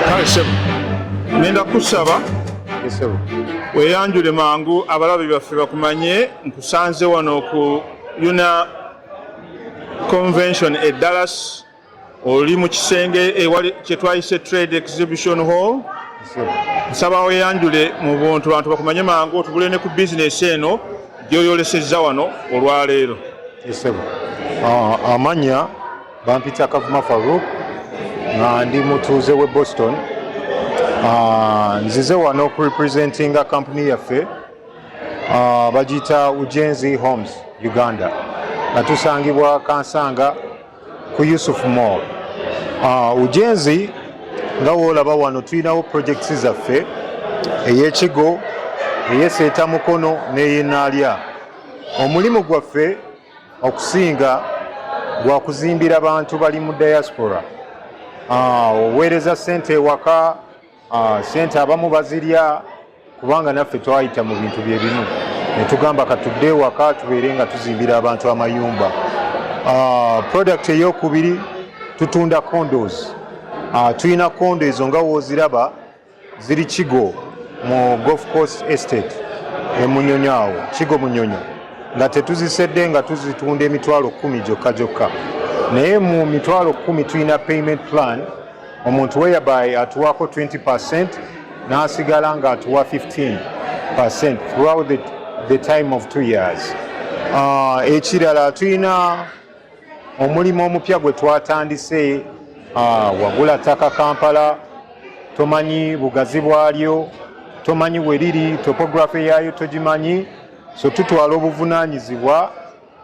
kale sebo ngenda kusaba weyanjule mangu abalabi baffe bakumanye nkusanze wano ku yuna convention e dallas oli mu kisenge kyetwayise trade exhibition hall nsaba weyanjule mu buntu bantu bakumanye mangu otubule ne ku bizinesi eno gyoyolesezza wano olwaleero ah, amanya Bampita Kavuma Farouk nga ndi mutuuze w'e Boston. Ah, nzize wano okurepresentinga kampuni yaffe ah, bagiyita Ujenzi Homes Uganda nga tusangibwa Kansanga ku Yusuf Mall. Ah, Ujenzi nga woolaba wano tulinawo projects zaffe ey'ekigo eyeseeta mukono n'eyenaalya omulimu gwaffe okusinga gwa kuzimbira bantu bali mu diaspora ah, oweereza sente ewaka ah, sente abamu bazirya kubanga naffe twayita mu bintu bye bimu ne tugamba katudde ewaka tubeere nga tuzimbira abantu amayumba ah, product eyokubiri tutunda condos tulina kondo ezo nga wooziraba ziri kigo mu golf course estate emunyonyo awo kigo munyonyo nga tetuzisedde nga tuzitunda emitwalo kumi gyokka gyokka naye mu mitwalo kumi tulina payment plan omuntu weyabay atuwako 20 percent n'asigala nga atuwa 15 percent throughout the, the time of two years uh, ekirala tulina Omulimu omupya gwe twatandise ah, wagula ttaka Kampala, tomanyi bugazi bwalyo, tomanyi we liri, topography yaayo togimanyi, so tutwala obuvunaanyizibwa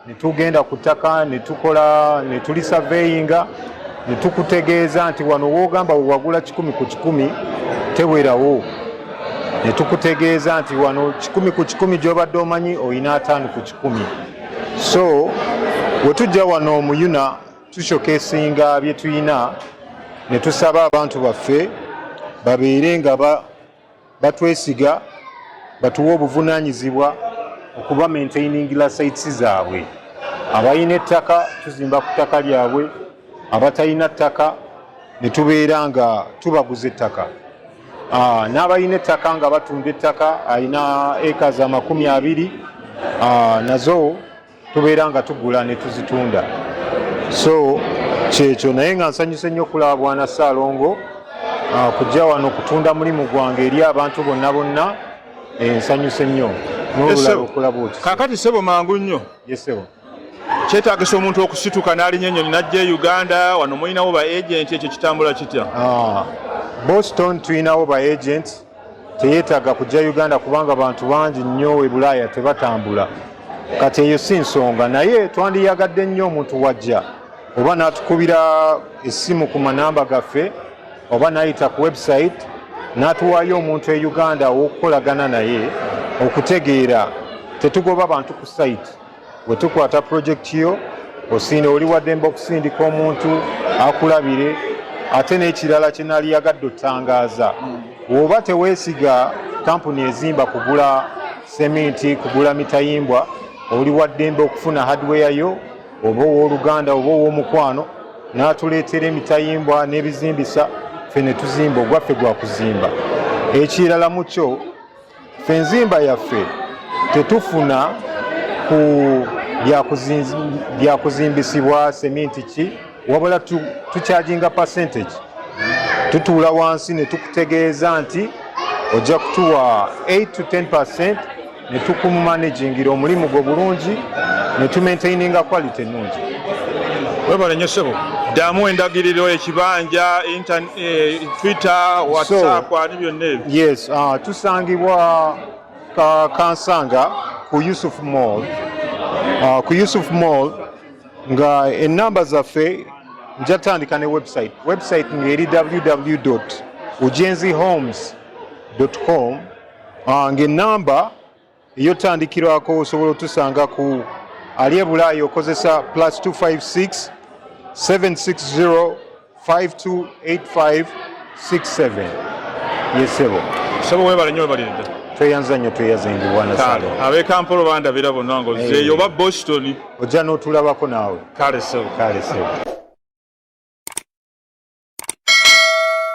ne tugenda ku ttaka ne tukola ne tuli surveyinga ne tukutegeeza nti wano woogamba we wagula kikumi ku kikumi tewerawo ne tukutegeeza nti wano kikumi ku kikumi gy'obadde omanyi olina ataano ku kikumi. kumi so wetujja wano omuyuna tushokesinga byetuyina ne tusaba abantu baffe babeere nga batwesiga batuwa obuvunanyizibwa okuba maintaining la sites zaabwe abalina ettaka tuzimba ku ttaka lyabwe abatalina ttaka ne tubeera nga tubaguza ettaka Ah, n'abalina ettaka nga batunda ettaka alina eka za makumi abiri ah, nazo tubeera nga tugula ne tuzitunda so kyekyo naye nga nsanyuse nnyo okulaba bwana ssaalongo ah, kujja wano kutunda mulimu gwange eri abantu bonna bonna eh, nsanyuse nnyo n'olulala okulaba oti kakati sebo mangu nnyo yesebo kyetagisa omuntu okusituka n'alinya ennyonyi n'ajja e uganda wano mulinawo ba agenti ekyo kitambula kitya ah, boston tulinawo ba agenti teyetaaga kujja uganda kubanga bantu bangi nnyo e bulaaya tebatambula kati eyo si nsonga naye twandiyagadde nnyo omuntu wajja oba n'atukubira essimu ku manamba gaffe oba n'ayita ku website n'atuwaayo omuntu e uganda ow'okukolagana naye okutegeera tetugoba bantu ku sayiti Bwe tukwata pulojekiti yo osiina oli waddembe okusindika omuntu akulabire ate n'ekirala kye nali yagadde otangaaza woba teweesiga kampuni ezimba kugula seminti kugula mitayimbwa oli waddembe okufuna hardware yo oba ow'oluganda oba ow'omukwano n'atuleetera emitayimbwa n'ebizimbisa ffe ne tuzimba ogwaffe gwa kuzimba ekirala mu kyo Ffe enzimba yaffe tetufuna ku byakuzimbisibwa seminti ki wabula tukyajinga percentage tutuula wansi ne tukutegeeza nti ojja kutuwa 8 to 10 percent ne tukumumanagingira omulimu gwo bulungi ne tumaintaininga quality ennungi webale nyo ssebo ddamu endagiriro ekibanja Eh, Twitter, WhatsApp, so, ani byonna ebyo. Yes, uh, tusangibwa ka, kansanga ku Yusuf Mall. Uh, ku Yusuf Mall nga ennamba zaffe nja tandika ne website. Website ngeri www.ujenzihomes.com uh, ng'ennamba eyo tandikirwako osobola otusanga ku ali ebulaayi okozesa plus 256 760 5285 67 yesebo sebo webale nyo webaliride tweyanza nnyo tweyaza engiwana salo abe kampolo bandabira bonna nga ozeeyo oba boston ojja n'otulabako naawe kale sebo kale sebo